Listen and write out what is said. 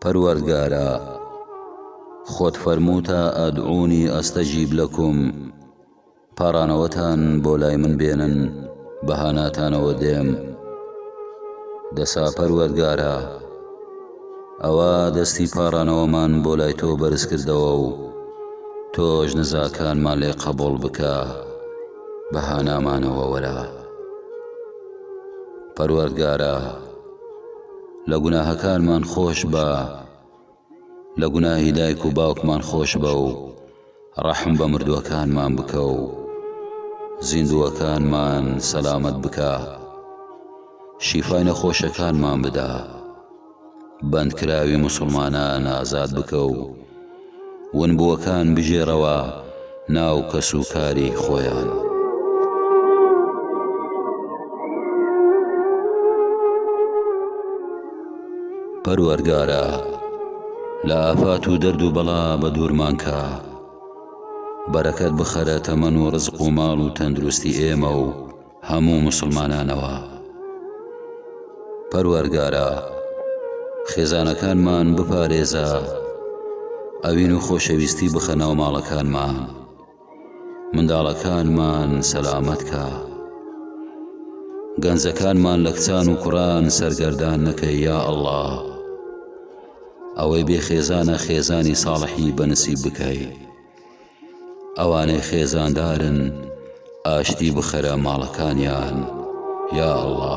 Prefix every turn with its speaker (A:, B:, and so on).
A: پەروەردگارا خۆت فەرمووتە ئەدعونی ئەستەجیب لەکم پاڕانەوەتان بۆ لای من بێنن بە هاناتانەوە دێم دەسا پەروەردگارا ئەوە دەستی پاڕانەوەمان بۆ لای تۆ بەرزکردەوە و تۆش نزاکانمان لێ قەبوڵ بکە. بە هانامانەوە وەرە پەروەردگارە لە گوناهەکانمان خۆش بە لە گوناهی دایک و باوکمان خۆش بە و ڕەحم بە مردووەکانمان بکە و زیندووەکانمان سەلامەت بکە شیفای نەخۆشەکانمان بدە. بەندکراوی موسڵمانان ئازاد بکە و ونبووەکان بگێڕەوە ناو کەسوکاری خۆیان. پەروەرگارا لە ئافات و دەرد و بەڵا بە دوورمانکە بەرەکەت بخەرە تەمەن و ڕزق و ماڵ و تەندروستی ئێمە و هەموو موسڵمانانەوە پەروەرگارا خێزانەکانمان بپارێزە ئەوین و خۆشەویستی بخە ناو ماڵەکانمان منداڵەکانمان سەلامەت کا گەنجەکانمان لە کچان و کوڕان سەرگەردان نەکە یا ئەله ئەوەی بێ خێزانە خێزانی ساڵحی بەنسی بکەیت ئەوانەی خێزاندارن ئاشتی بخەرە ماڵەکانیان یا اللە.